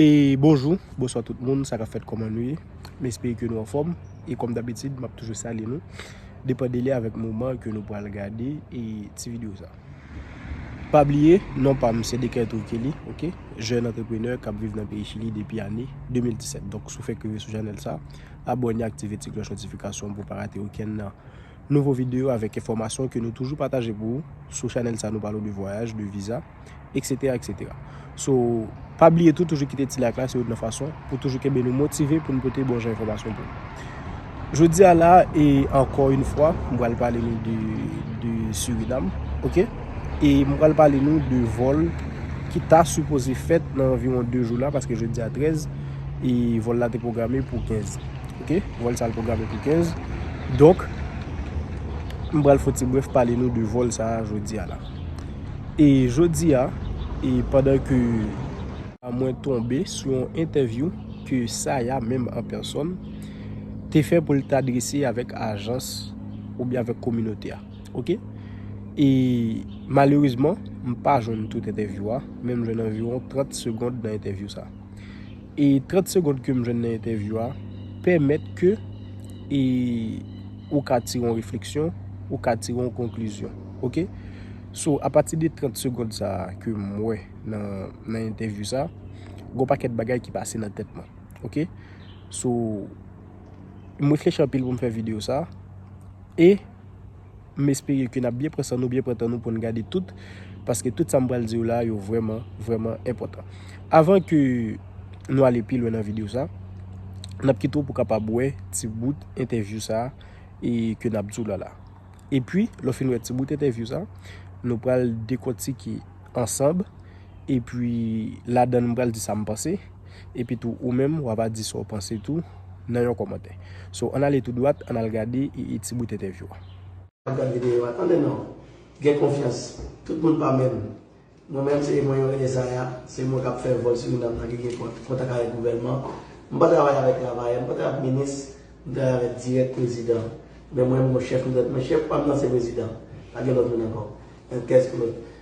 E bonjou, bonswa tout moun, sa kap fèt kòman nou ye? M espere ke nou anfòm e kòm dabitid map toujou salye nou depan dele avèk moman ke nou pral gade e ti video sa. Pa bliye non pam se Decatur Kelly ok, jèn antreprenè kap viv nan peyi Chili depi ane 2017. Donk si w fèk rive sou chanèl sa, abòne aktive ti klòch notifikasyon pou w pa rate okenn nan. Nouvo videyo avèk enfòmasyon ke nou toujou pataje pou ou sou chanèl sa nou pale w de vwayaj, de viza, etc etc so pa bliye tou toujou kite ti like la se youn nan fason pou toujou kenbe nou motive pou nou pote bon jan enfòmasyon pou nou jodi a la e ankò youn fwa m pral pale nou de de Surinam ok e m pral pale nou de vòl ki ta sipoze fèt nan anviwon 2 jou la paske jodi a 13 e vòl la te pwograme pou 15 Ok vol sa programe pou 15 donk m pral fon ti bref pale nou de vol sa jodia la e jodia e pandan ke mwen tonbe sou yon entèvyou ke Saya menm an pèsòn te fè pou l ta adrese avèk ajans ou byen avèk kominote a ok e malerezman m pa jwenn tout entèvyou a men m jwenn anviwon 30 segond nan entèvyou sa. e 30 segond kem jwenn nan entèvyou a pèmèt ke e ou ka tire yon refleksyon, ou ka tire yon konklizyon ok, so apati de 30 segond sa ke mwen nan entèvyou sa gon pakèt bagay ki pase nan tèt mwen ok, so mwen fèchè anpil pou m fè video sa e. M espere ke nap byen pran san nou, byen pran tan nou pou n gade tout, paske tout sa m pral di yo la a yo vrèman, vrèman enpòtan. Avan ke nou ale pi lwen nan videyo sa, nap kite w pou kapab wè ti bout entèvyou sa a e ke nap di w la la. Epi, lè w fin wè ti bout entèvyou sa, nou pral dekòtike ansanb, epi ladan l m pral di sa m panse. epi tou ou menm wa va di sa w panse tou nan yon kòmantè. So ann ale tou dwat ann al gade ee ti bout entèvyou a. Ap gad videyo a tande non. Gen konfyans. Tout moun pa menm. Mwen menm se mwen yon René Saya, se mwen kap fè vòl Surinam nan ki gen kont kontak avèk gouvènman. M pa travay avèk travayè, m pa travay avèk minis, m travay avèk dirèk prezidan. Men mwen m gon chèf m dwèt men chèf pa m nan se prezidan. Pa gen lòt moun ankò. Yon kès pou lòt.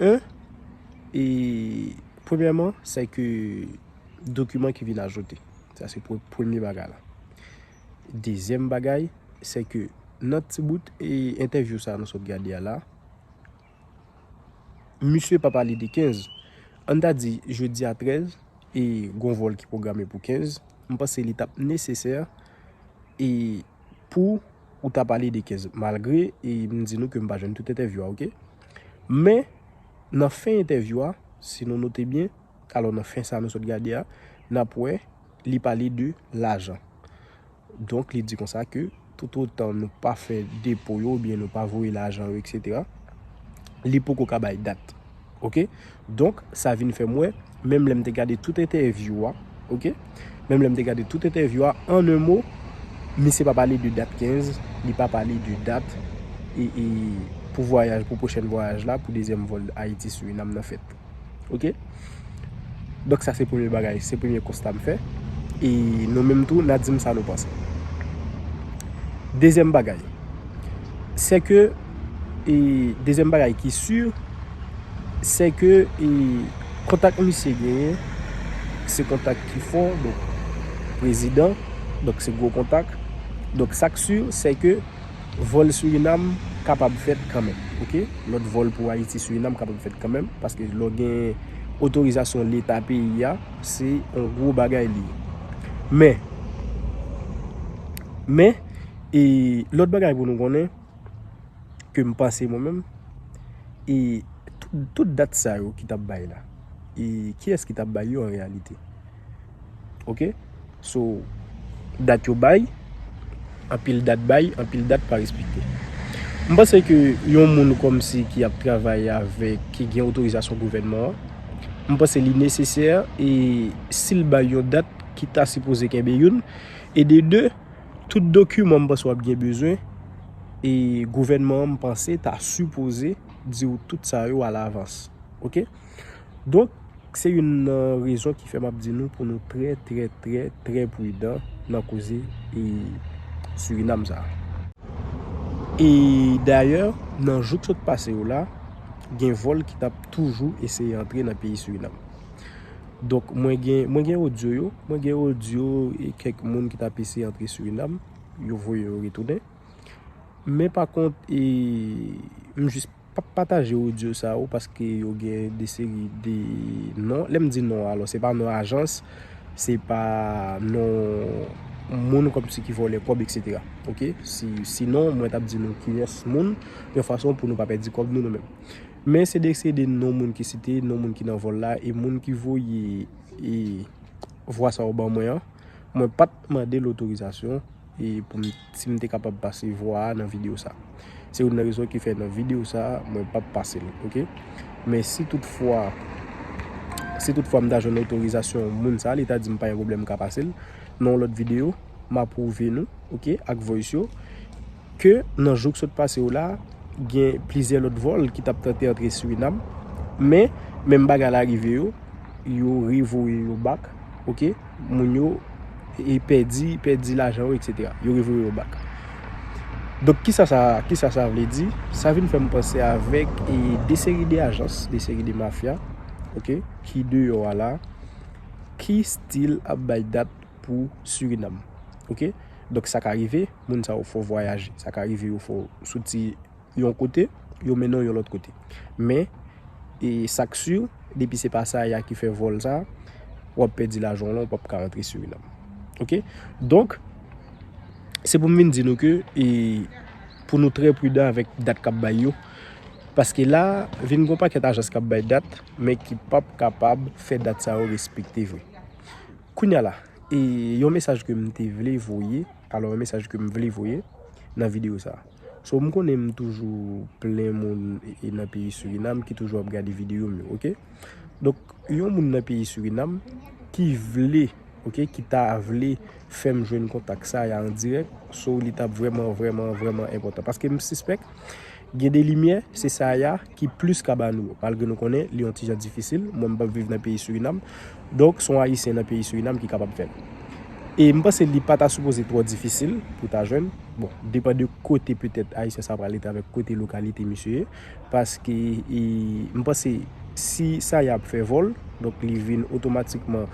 1. Premyèman, se ke dokiman ki vin ajoute. Sa se premye bagay la. Dezyèm bagay, se ke nan ti bout e entèvyou sa nou sot gade a la, misye pa pale de 15. An ta di, jodi a 13, e gon vòl ki pwograme pou 15, m panse li tap nesesè e pou ou ta pale de 15. Malgre, e m di nou ke m pa jwenn tout entèvyou a, ok? Men, nan fen entèvyou a, si nou note byen, alò nan fen sa nou sot gade a, n ap wè li pale de lajan. Donk li di konsa ke toutotan nou pa fè depo yo oubyen nou pa voye lajan yo eksetera, li poko ka bay dat. Ok. Donk, sa vin fè m wè, menm lè m te gade tout entèvyou a, ok, menm lè m te gade tout entèvyou a, an un mot, misye pa pale de dat 15, li pa pale de dat e, e, pou vwayaj, pou pwochèn vwayaj la, pou dezyèm vòl Ayiti-Surinam nan fèt. Ok? Donk sa se premye bagay, se premye konsta m fè. E nou menm tou, n a di m sa nou panse. Dezyèm bagay, sè ke, e dezyèm bagay ki si se ke e kontak misye genyen se kontak ki fò donk prezidan donk se gwo kontak donk sa k si se ke vòl Surinam kapab fèt kanmenm ok lòt vòl pou Ayiti Surinam kapab fèt kanmenm paske lò gen otorizasyon leta peyi a se yon gwo bagay li ye men men e lòt bagay pou nou konnen ke m panse mwen menm e tout dat sa yo ki t ap bay la e kiyès ki t ap bay yo an reyalite ok so dat yo bay anpil dat bay anpil dat pa respekte m panse ke yon moun kòmsi ki ap travay avèk ki gen otorizasyon gouvènman an m panse li nesesè e si l bay yon dat ki ta sipoze kenbe youn e de 2. Tout dokiman m panse w ap gen bezwen e gouvènman an m panse ta sipoze di w tout sa yo alavans. Ok. Donk, se youn nan rezon ki fè m ap di nou pou nou trè trè trè trè pridan nan koze Surinam sa a. E dayè, nan jou k sot pase yo la, gen vòl ki t ap toujou eseye antre nan peyi Surinam. Donk mwen gen, mwen gen audio yo, mwen gen audio e kèk moun ki tap eseye antre Suriname, yo voye yo retounen. Men pa kont e m jis pap pataje audio sa yo paske yo gen de seri de non, lè m di non alò se pa non ajans, se pa non moun kòm si ki vòlè kòb etc. Ok, si non mwen tap di nou kiyès moun yon fason pou nou pa pèdi kòb nou nou menm. Men se desede non moun ki site, non moun ki nan vòl la e moun ki voye e vwa sa yo ban mwen an, mwen pat mande l otorizasyon e pou m si m te kapab pase vwa a nan videyo sa. Se youn nan rezon ki fè nan videyo sa mwen pap pase l ok. Men si tout fwa si tout fwa m ta jwenn otorizasyon moun sa li ta di m pa gen pwoblèm m ka pase l nan yon lòt videyo m apwouve nou ok ak voice yo. Ke nan jou k sot pase yo la, gen plizyè lòt vòl ki t ap tante antre Surinam, men, menm bagay la rive yo, yo revoye yo bak, ok, moun yo pèdi, pèdi lajan yo eksetera, yo revoye yo bak. Donk kisa sa, kisa sa vle di? Sa vin fè m panse avèk e de seri de ajans, de seri de mafya, ok, ki deyò a la, ki stil ap bay dat pou Surinam, ok, donk sa ka rive. moun sa yo fò vwayaje. Sa ka rive yo fò soti yon kote, yo mennen w yon lòt kote. Men, e sa k si, depi se pa Saïa ki fè vòl sa, w ap pèdi lajan w lan, ou p ap ka rantre Surinam. Oke? Donk, se pou m vin di nou ke, e pou nou trè pridan avèk dat k ap bay yo, paske la, vin gen yon pakèt ajans k ap bay dat, men ki p ap kapab fè dat sa yo respekte vre. Kounye a la, e yon mesaj ke m te vle voye, Alò yon mesaj ke m vle voye nan video sa. So m konnen m toujou plen moun e nan peyi Suriname ki toujou ap gade video m yo ok. Donk yon moun nan peyi Suriname ki vle ok ki ta vle fè m jwenn kontak sa ya an dirèk so li tap vrèman vrèman vrèman enpòtan. Paske m sispèk Gen de limyè, se sa ya ki plis ka ba nou. Malgre nou konnen li yon ti jan difisil, mwen m pap viv nan peyi Surinam, donk son ayisyen nan peyi Surinam ki kapab fèl. E m panse li pa ta sipoze twò difisil pou ta jwenn, bon, depan de kote petèt ayisyen sa pral rete avèk kote lokalite misye ye, paske m panse si sa ya ap fè vòl, donk li vin otomatikman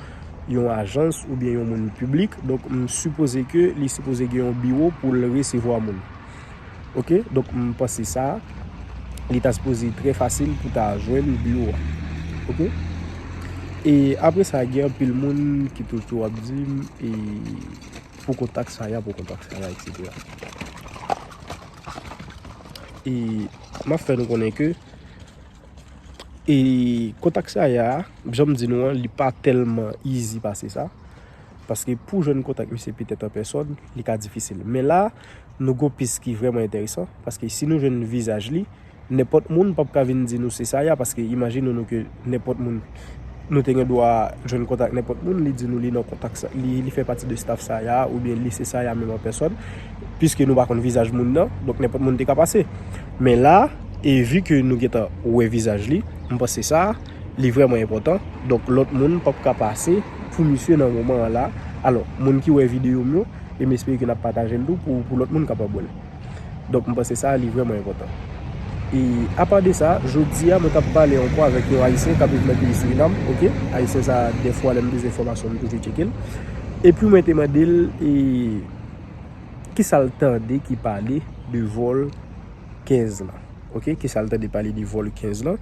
yon ajans oubyen yon moun piblik, donk m sipoze ke li sipoze gen yon biwo pou l resevwa moun. Ok donk m panse sa li ta sipoze trè fasil pou ta jwenn biwo a ok e apre sa gen anpil moun ki toujou ap di m e pou kontak sa ya pou kontak sa ya etc e m ap fè nou konnen ke e kontak sa ya jan m di nou an li pa tèlman izi pase sa paske pou jwenn kontak misye petèt an pèsòn li ka difisil men la Nou gon pis ki vrèman enteresan, paske si nou jwenn vizaj li, nenpòt moun pap ka vin di nou se sa ya, paske imajine nou ke nenpòt moun, nou te gen dwa jwenn kontak nenpòt moun, li di nou li nan kontak sa, li fè pati de staf sa ya, oubyen li se sa ya menm an pèsòn, piske nou pa konn vizaj moun nan, donk nenpòt moun te ka pase. Men la, e vi ke nou gentan wè vizaj li, m panse sa, li vrèman enpòtan, donk lòt moun pap ka pase pou misye nan moman an la, alò, moun ki wè videyo m yo. e m espere ke n ap pataje l tou pou lòt moun kapab wè l. Donk, m panse sa a li vrèman enpòtan. E apa de sa, jodi a mwen t ap pale ankò avèk yon Ayisyen k ap viv nan peyi Surinam, ok, Ayisyen sa a dèfwa lè m bezwen enfòmasyon m toujou tcheke l, epi mwen te mande l e ki sa l tande ki pale de vòl 15 lan, ok, ki sa l tande pale de vòl 15 lan,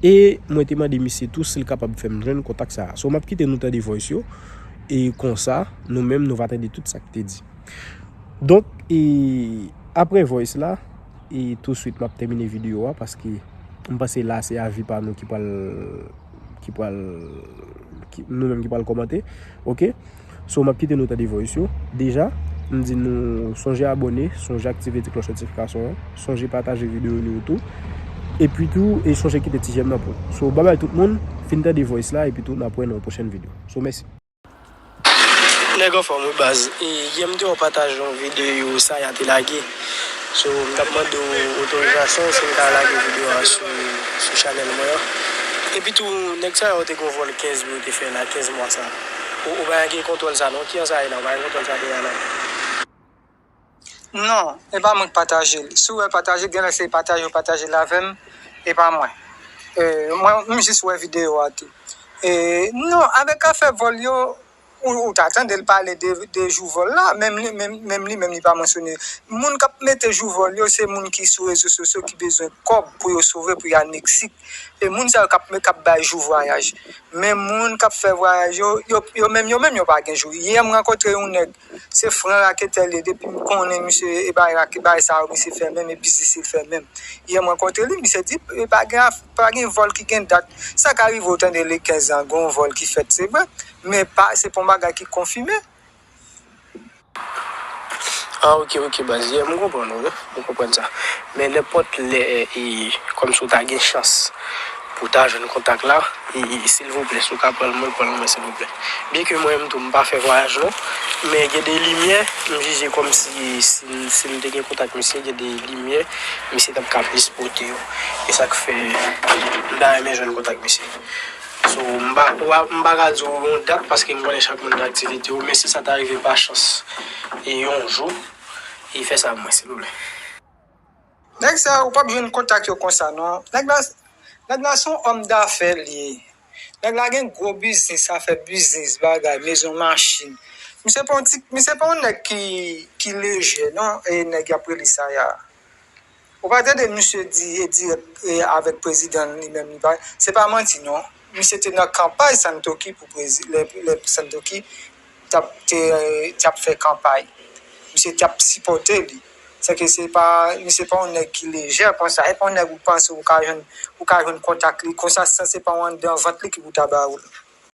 e mwen te mande misye tou si l kapab fè m jwenn kontak sa a. So m ap kite nou tande voice yo. e konsa nou menm nou va tande tout sa ki te di. Donk e apre voice la e tou swit map tèmine video a paske m panse la se avi pa nou ki pral ki pral nou menm ki pral kòmante ok. So map kite nou tande voice yo deja m di nou sonje abòne, sonje aktive ti klòch notifikasyon an, sonje pataje video nou yo tou epi tou e sonje kite ti jèm nan pou nou. So babay tout moun fin tande voice la epi tou nap wè nan yon pwochèn video. So mèsi. Nèg anfòm wi baz. Yè m te wè w pataje yon videyo Saya te lage. So m tap mande w otorizasyon si m ka lage videyo a sou chanèl mwen an. Epi tou nèg Saya yo te gen yon vòl 15 mwa yo te fè la 15 mwa sa. Ou pa gen kontwòl sa non kijan sa ye la ou pa gen kontwòl sa te ye a non. Non e pa mwen ki pataje l si w wè pataje genlè se pataje ou pataje l avè m e pa mwen mwen jis wè videyo a tou non avèk afè vòl yo ou ta tande l pale de jou vòl la menm li menm li pa mansyone moun k ap mete jou vòl yo se moun ki sou rezo sosyo ki bezwen kòb pou yo sove pou yo al Meksik e moun sa yo k ap bay jou vwayaj men moun k ap fè vwayaj yo yo menm yo pa gen jou yè m rankontre yon nèg Se fran raketè liye depim konnen misye e bay rake bay sa yo misye fè menm e biznis li fè menm yè m rankontre li misye di pa gen af pa gen vòl ki gen dat sa ka rive ou tande le 15 an gon vòl ki fèt se vre men pa se pa yon bagay ki konfime. Ah ok ok baz yè m konprann ou wi m konprann sa men nenpòt lè e kòmsi ou ta gen chans Pou ta jwenn kontak la silvouplè si w ka pran l mwen pran l mwen silvouplè. Byen ke mwen menm tou m pa fè vwayaj non men gen de limyè m jije kòm si si m te gen kontak misye gen de limyè misye t ap ka plis pote yo e sa k fè m ta renmen jwenn kontak misye so m pa m pa ka di w yon dat paske m konnen chak moun gen aktivite yo men si sa ta rive pa chans yon jou fè sa pou mwen silvouplè. Nèg sa ou pap jwenn kontak yo konsa non. Nèg la nèg la son homme d'affaires li ye. Nèg la gen gwo biznis, sa fè biznis, bagay, mezon, machin. Misye pa yon ti, misye pa yon nèg ki ki lejè non e nèg yap rele Sayar. Ou pa tande misye di e dirèk e avèk prezidan li menm li pa, se pa manti non. Misye te nan kanpay Santoki pou prezi lè lè Santoki t ap te te ap fè kanpay misye t ap sipòte li se ke se pa misye pa yon nèg ki lejè konsa e pa yon nèg ou panse ou ka jwenn ou ka jwenn kontak li konsa san se pa yon anndan vant li ki pou ta ba ou l.